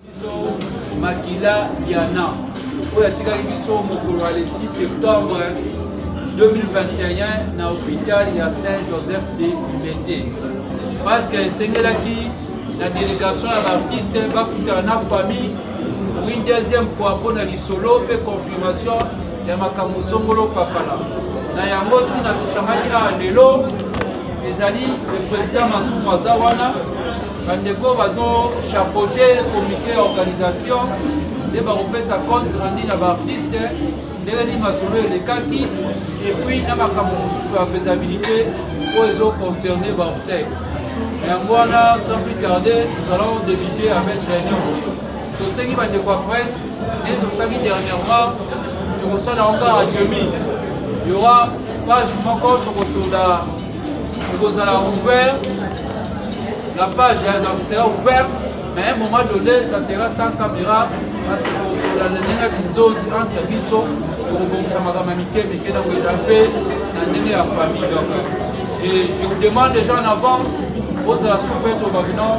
biso makila diana oyo atikaki biso mokolo ya le 6 septembre 2021 na hopital ya saint joseph de libete parce que esengelaki na délégation ya baartiste bakutana na famille pour une deuxième fois mpo na lisolo mpe confirmation ya makambo songolo pakala na yango ntina tosangani awa lelo ezali le président masumu aza wana bandeko bazo chapeauter comité ya organisation nde bakopesa compte rendu na baartiste ndenge nini masolo elekaki epuis na makambo mosusu ya faisabilité oyo ezo concerne baobsèque yango wana sans plus tarder nous allons débuter avec réunion tosengi bandeko ya presse ndenge tosalaki dernièrement tokosala yango kaka demi y aura page moko tokosola ekozala ouvert la page ya donc sera ouvert mais un moment donné ça sera sans caméra parce que kosola na ndenge ya kinzozi entre biso tokobongisa makambo ya mike mike na koyeda mpe na ndenge ya famille donc et je vous demande déjà en avance ozala super tobaki non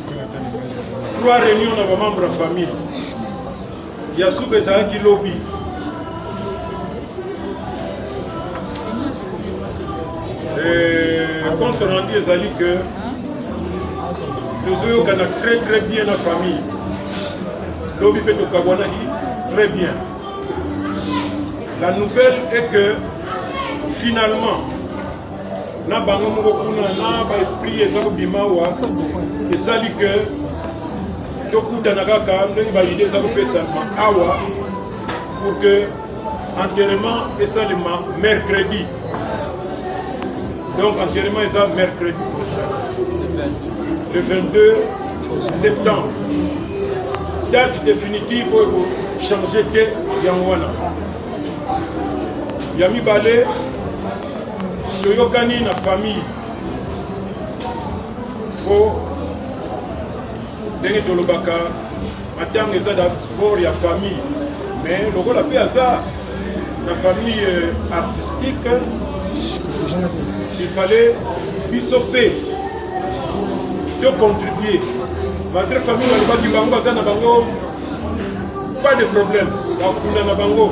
trois réunion na bamembre ya famille ya suka ezalaki lobi eh, compte rendu ezali que tozoyokana très très bien na famille lobi mpe tokabwanaki très bien la nouvelle est que finalement na bango moko kuna na baesprit eza kobima awa esali ke tokutana kaka ndenge baide eza kopesama awa pour que enterrement esalema mercredi donc enterrement eza mercredi prochain le 22 septembre date définitive oyo kochange te yango wana ya mibale toyokani na famille mpo ndenge tolobaka matanga eza dabord ya famille mais lokola mpe aza na famille euh, artistique il fallait biso mpe tocontribue malgré famille balobaki bango baza na bango pas de problème bakunda na bango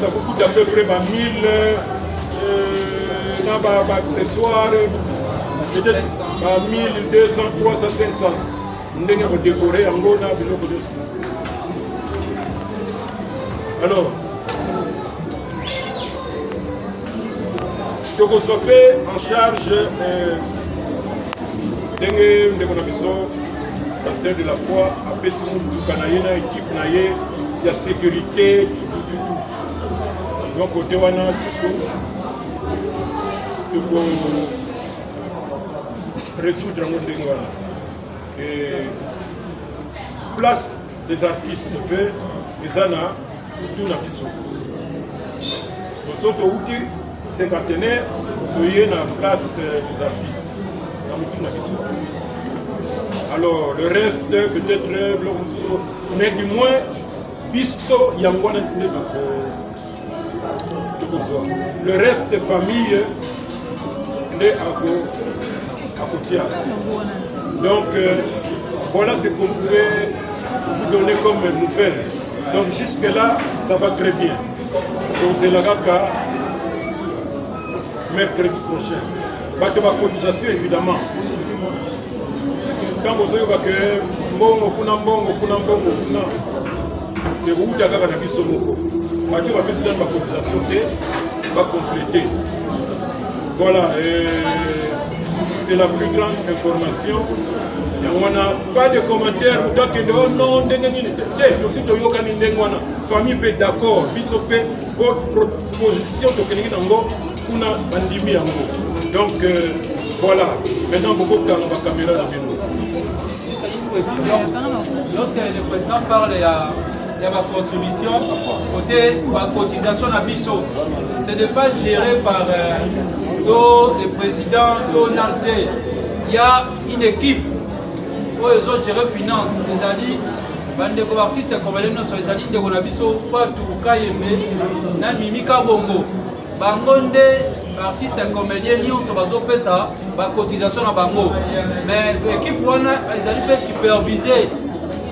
Ça vous coûte à peu près 1000 na ba accessoires peut-être ba 1200 300 500 ndenge ya kodekore yango na biloko nyonso alors tokozwa mpe en charge euh, ndenge ndeko na biso Baptiste de la foi apesi motuka na ye na ekipe na ye ya sécurité tutututu donc kote wana susu toko résoudre yango ndenge wana place des artistes mpe eza na Tuna biso biso touti cinquantenaire toye na place euh, des artistes na motu na biso alors le reste peut-être euh, biloko mosusu mais du moins biso yango wana nde tokozwa le reste famille nde akotia donc euh, voilà ce qu'on pouvait vous donner comme nouvelle Donc jusque là, ça va très bien. Donc c'est la kaka mercredi prochain. Bato ba cotisation évidemment. Ntango ozoyoka ke mbongo kuna mbongo kuna mbongo kuna ekouta kaka na biso moko. Bato bapesi nani bacotisation te bacomplete. Voilà, euh, c'est la plus grande information yango wana pas de commentaire moto akende o oh non ndenge nini te tosi toyokani ndenge wana famille mpe d'accord biso mpe po proposition tokendeki nango kuna bandimi yango donc euh, voilà maintenant bokokanga bakamera na bino lorsque le président parle ya ya bacontribution kote bacotisation na biso ce n'est pas géré par euh, to le président to nante il y a une équipe oyo ezo gérer finance ezali bandeko baartiste congolais nyonso ezali ndeko na biso fatu kayembe na mimi kabongo bango nde baartiste comédien nyonso bazopesa bacotisation na bango mais ekipe wana ezali mpe supervise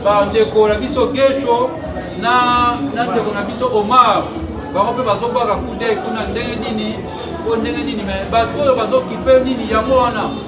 bandeko na biso gesho na ndeko na biso omar bango mpe bazobwaka kudei kuna ndenge nini mpo ndenge nini me bato oyo bazokipe nini yango wana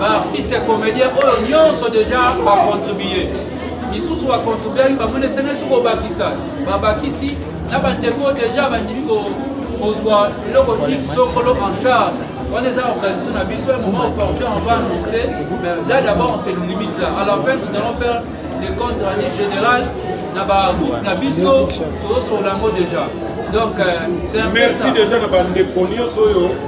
ba artiste comédien oyo nyonso déjà ba contribuer misusu ba contribuaki bamoni esene soki obakisa babakisi na bandeko déjà bandimi kozwa eloko x sokolo en charge wana eza organisation na biso ya moment opportun on va annoncer mais là d'abord on se limite là à la fin nous allons faire les comptes année général na bagroupe na biso tozosola yango déjà donc euh, c'est un merci déjà na bandeko nyonso oyo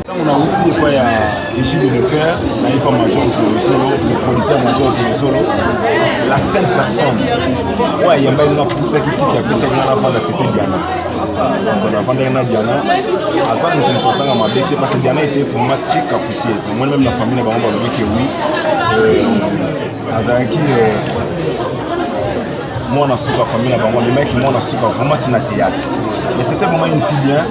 ntango nauti epai ya egide de fer nayepa major zolozolo le producteur major zolozolo la seule personne oyo ayambaki nga pusaki kiti apesaki nga nafanda sete diana donc nafandaki na diana aza moto moto azanga mabe te parce que diana ete vraiment très capricieuse moi même na famille na bango balobi ke oui euh, azalaki euh, mwana suka famille na bango amemaki mwana suka vraiment tina théâtre mais c'était vraiment une fille bien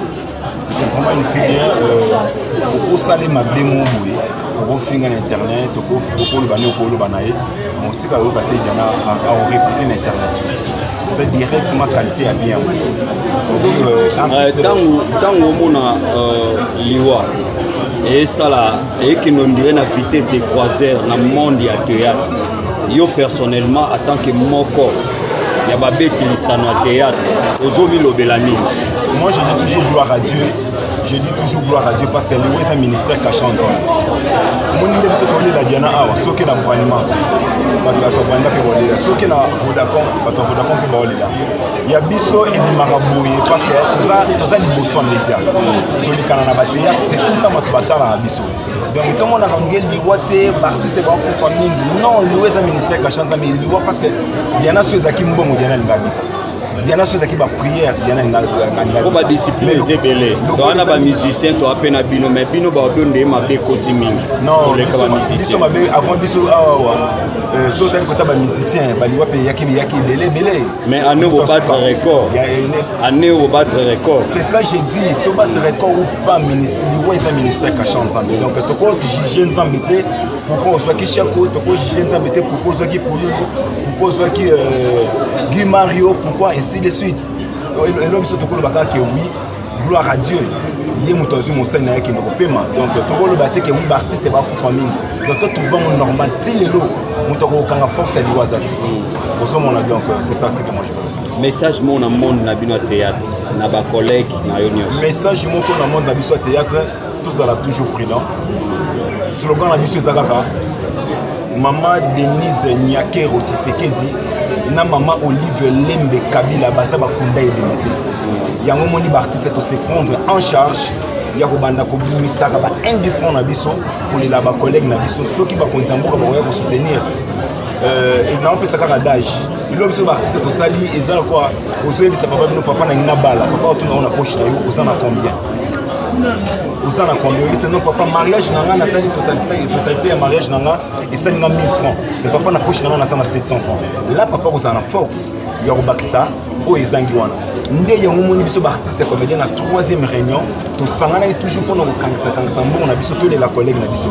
c'était vraiment une filière euh, okosali mabe mo boye okofinga na internet okoloba nde okoloba na ye motika oyoka te diana aoreplike na internet c'est directement qualité ya bien ntango euh, omona euh, liwa eyesala eyekende ondire na vitesse de croiseur na monde ya théâtre yo personnellement atant que moko ya babeti lisano ya théâtre ozomilobela nini moi je dis toujours gloire à dieu je dis toujours gloire à dieu parce que yango eza ministère kasha nzambe omoni nde biso tolela diana awa soki na bralima bato ya rwanda mpe baolela soki na vodacom bato ya vodacom mpe baolela ya biso ebimaka boye parce que toza liboso ya média tolekana na bateatre c'est tout ntan bato batalaka biso donc tomonaka nde liwa te baartiste bakufa mingi non liwa eza ministère kashanta mais liwa parce que diana so ezalaki mbongo diana alinga abika diana so ezalaki baprière diana po badiscipline eza ebele wana bamusicien toa mpe na bino mais bino baoto nde mabe ekoti mingi noleka bamusicien mabe avant biso awawa euh, so otali kota bamusicien baliwa mpe eyaki ebele ebele mais ano bobattre record année au battre record c'est ça j'ai dit to battre record ou pas ministre liwa eza ministre ya kasha nzambe donc toko juge nzambe te pourquoi ozwaki shako toko juge nzambe te pourquoi ozwaki polulu pourquoi ozwaki euh, guy mario pourquoi ainsi de suite elo biso tokoloba kaka ke oui gloire à dieu ye moto azwi mosali na ye kende kopema donc tokoloba te ke oui baartiste bakufa mingi donc totrouve yango normal ti lelo moto akokokanga force ya liwa aza te ozomona donc euh, c'est ça c'est que moi message moko na monde na bino ya théâtre na ba collègue na yo nyonso message moko na monde na biso ya théâtre tozala toujours prudent slogan na biso eza kaka mama denise nyakero tshisekedi na mama olive lembe kabila baza bakunda ebembe te yango omoni baartiste tose prendre en charge ya kobanda kobimisaka ba indifferent na biso kolela bacollègue na biso soki bakonzi ya mboka bakoya kosoutenir euh, naopesa kaka dage bilo biso baartiste tosali eza lokola ozoyebisa papa bino papa nangi nabala papa otuna ngo na poche na yo oza na combien oza na combien oyebisa no papa mariage na ngai natali totalite ya mariage na ngai esali nga 1000 francs me papa na poche na ngai naza na 700 francs la papa kozala na force ya kobakisa oyo ezangi wana nde yango omoni biso baartiste comédien na troisième réunion tosanganaki toujours mpona kokangisakangisa mbongo na biso tolela collègue na biso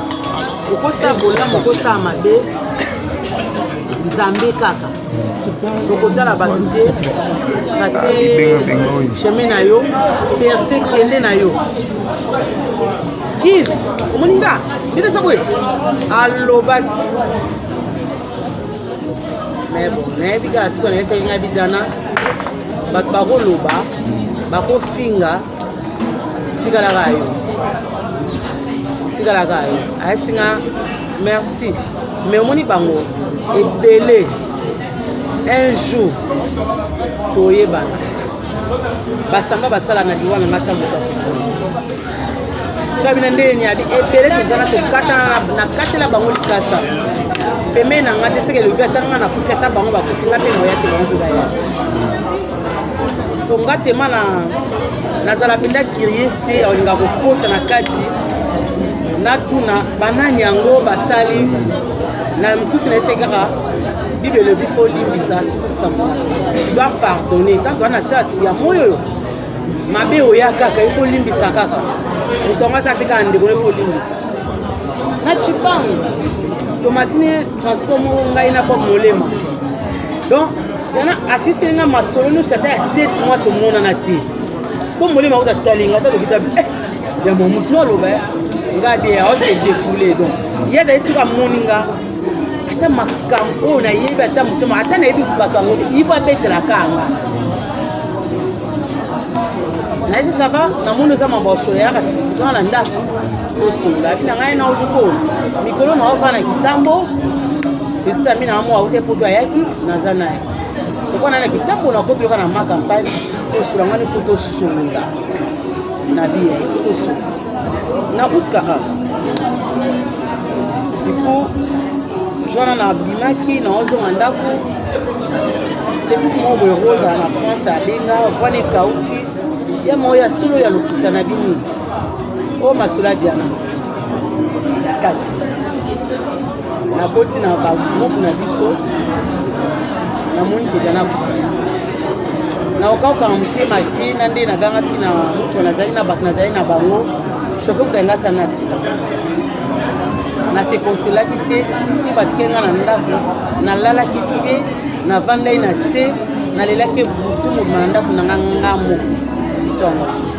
okosala bolamu okosala mabe nzambe kaka tokotala bato te kase chemin na yo perse kende na yo kiz omoni nga ndetesa boye alobaki mais bon nayebi kaka sikoyo nayebi soki ngai bijana bato bakoloba bakofinga tikalaka yo tikalaka yo ayesi nga merci mais omoni bango ebele un jour toyebana basamba basala na liwa mema ntango ngai bina ndenge niabi ebele tozana tokatana nakatela bango likasa pembeni na ngai te seke elobi ata ngai nakufi ata bango bakufi ngai mpe naoya te bango mpe baya mpo nga tema na nazala mpenza curieux te olinga kokota na kati natuna banani yango basali na mikusi na ese kaka bible elobi fo olimbisa tokosamola doit pardonne ntango wana se ya moi oyo mabe oya kaka ifo olimbisa kaka moto yango aza mpe kaka ndeko no ifo olimbisa na chipango tomatini transport moko ngai na bob molema donc Dana asisi nga masolo nyonso ata ya 7 mois tomonana te mpo molimo akuta talinga ata lokuta eh, ya momutu no aloba eh. nga de aose defoule donc ye azali soki amoni nga ata makambo oyo nayebi ata motoma ata nayebi bato yango te ifo abetelaka nga nayesi sava namoni oza mambo ya solo yaka twana na ndako Tosola na ngai na oluko mikolo na ova na kitambo esita mi na mwa ute poto ayaki naza naye okwana na kitambo na koto yoka na ma campagne tosola ngani fo tosolola na biya ifo tosolola nakutika a du coup jwana na bimaki naozonga ndako petit moko boye rosa na france abenga vwana ekauki ya moko ya solo ya lokuta na bini o oh, masula diana na kati nakoti na bagroupe na biso namoni ke diana kufa naokauka na motema te na nde nagangaki na moto nazali na bato nazali na bango shofe kuta nga sana atika nasekonsolaki te si batike nga na ndako nalalaki te navandai na se nalelaki butu mobima na ndako na nga nga moko ntongo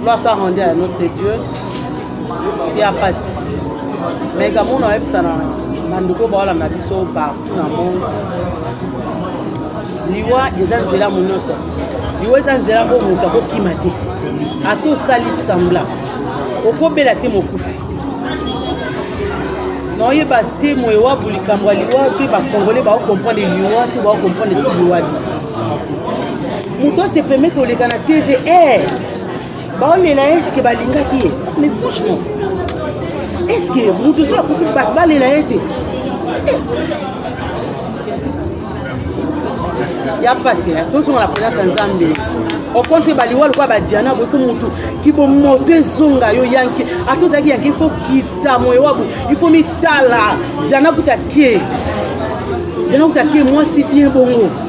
Gloire soit rendue à notre Dieu. Ya pasi. Mais kamona oyebisa na bandeko baolanda biso partout na monde. Liwa eza nzela monyoso. Liwa eza nzela oyo moto akokima te. Ata osali sambla. Okobela te mokufi. naoyeba te moye wabu likambo ya liwa soki bakongole baokomprendre liwa to baokomprendre soki liwa te moto ase permettre koleka na tv eh! baolela ye eske balingaki ye mais franchement eske moto soki akufi bato balela ye te eh! ya mpasi eh, tozonga na présence ya nzambe okonte baliwa lokola badiana bo ifo motu kibo moto ezonga yo yanke ata ozalaki yanke ifo kita moyo wabu ifo mitala diana kuta ke diana kuta ke mwasi bien bongo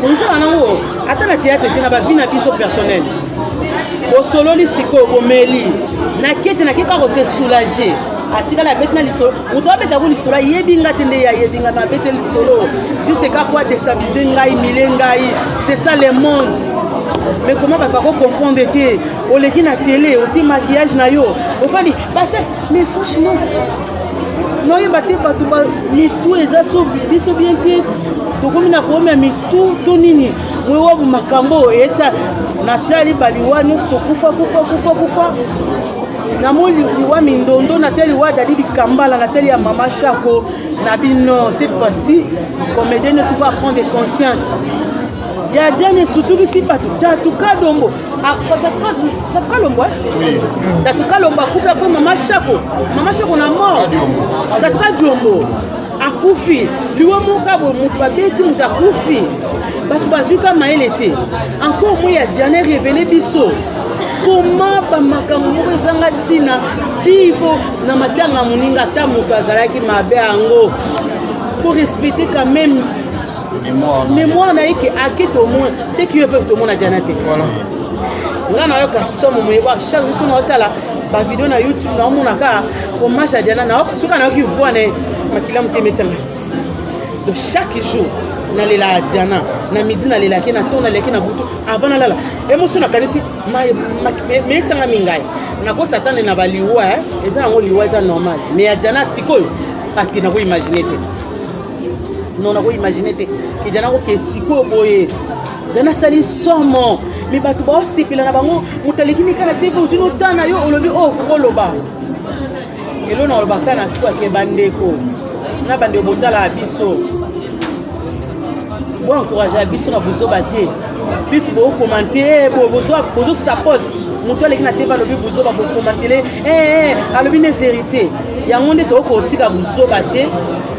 Bozala nango ata na théâtre te na ba vie na biso personnel. Bosololi sikoyo bomeli. Na kete na keka ko se soulager. atikala abeti na lisolo moto abeta yango lisolo ayebi nga te nde ye ayebi nga me abeti lisolo juste eka po adestabilise ngai mile ngai c'est ça le monde mais comment bato bako comprendre te oleki na tele otie maquillage na yo ofandi base mais franchement noyeba te bato mitu eza so biso bien te tokomi na koomya mitu to nini moyowabu makambo oyo eta natali baliwa nyonso tokufa kufa kufa kufa namoni liwa mindondo natali liwa dadi likambala natali ya mama shako na bino cette fois-ci comédien nyonso faut apprendre conscience ya jane esutukisi bato tatu kadombo Ah, tatuka lombwa eh? tatuka lombwa akufi apres mama shako mama shako na mort tatuka diombo akufi liwa moka boye moto babeti moto akufi bato bazwi ka mayele te encore moi ya diane revele biso koma bamakambo moko ezanga ntina vivo na matanga moninga ata moto azalaki mabe yango korespecte quand même memoire na ye ke ake tomona ce qui veut tomona jana te nga nayoka somo moye ba chaque jour somo otala bavideo na youtube naomona kaka hommage ya diana soki nayoki voi na ye makila motema etianga donc chaque jour nalela diana na midi nalelaki na to nalelaki na butu avant nalala emotion nakanisi meesangami ngai nakosa atande na baliwa eza yango liwa eza normal mais ya diana sikoyo ati nakoimagine te non nako imagine te ke jana koke sikoyo boye jana asali somo me bato baosepela na bango moto aleki nika na tv ozwi notana yo olobi oyo oh, kokoloba elo na olobaka na sikoyo ake bandeko na bandeko botalaka biso bo encouragea biso na bozoba te biso bokomante eh, bozosapote moto aleki na tv alobi bozoba bokomantele eh, eh, alobi ne verité yango nde tokoki kotika bozoba te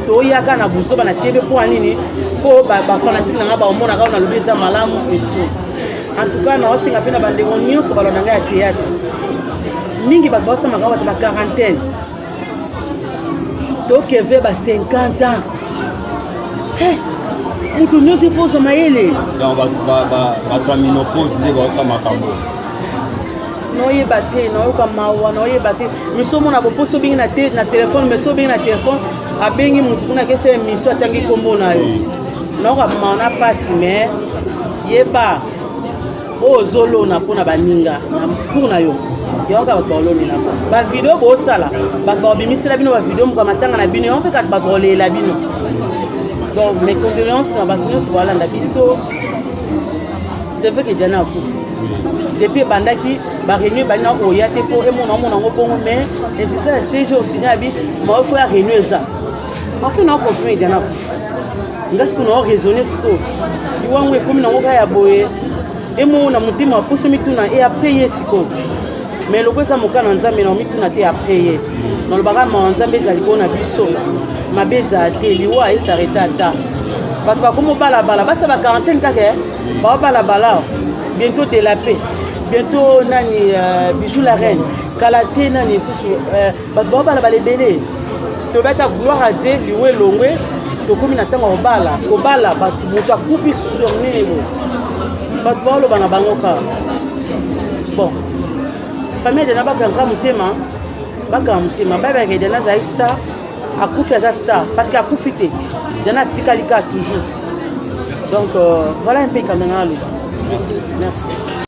toyaka na buzoba na tv mpo ya nini mpo bafanatike na ngai baomonaka oyo nalobi eza malamu etout en tout cas naosenga mpe na bandeko nyonso balona ngai ya théâtre mingi bato baosamaka bato ba quarantaine tokeve ba 50 ans moto nyonso ifo ozwa mayele donc bato ya minopose nde baosa makambo naoyeba te nayoka mawa naoyeba te miso omona boposo obengi na te na telefone miso obengi na telefone abengi motu kuna kesa emission atangi nkombo na yo nayoka mawa na mpasi mais yeba oyo ozolona mpo na baninga na tour na yo yango kaka bato baolonela bavideo bosala bato baobimisela bino bavideo moka matanga na bino yango mpe kaka bato baolelela bino donc mes condoléances na bato nyonso baolanda biso c'est vrai que diana akufi depuis ebandaki bareunion ebandi na oya te mpo emona omona yango bongo mais insista ya cg osinya abi maofre ya reunion eza maofre na okonfirme diana akufi nga sikoyo na oraisonne sikoyo iwango ekomi nango kaka ya boye emona motema aposo mituna e après ye sikoyo mais loko eza moka na nzambe na omituna te après ye nalobaka mawa nzambe eza likolo na biso mabe ezala te liwa esarete ata bato bakomi obalabala basa ba quarantaine kaka eh? baobalabala bientôt de la paix bientôt nani euh, bijou la reine kala te nani lisusu euh, bato baobala bala ebele toyebi ata gloire a dieu liwa elongwe tokomi na ntango ya kobala kobala bato moto akufi sur nini boye bato baoloba na bango kaka bon famille edena bakanga motema bakanga motema babaka edena azali star akufi aza star parce que akufi te edena atikali kaka toujours donc euh, voilà un peu kamena aloba merci merci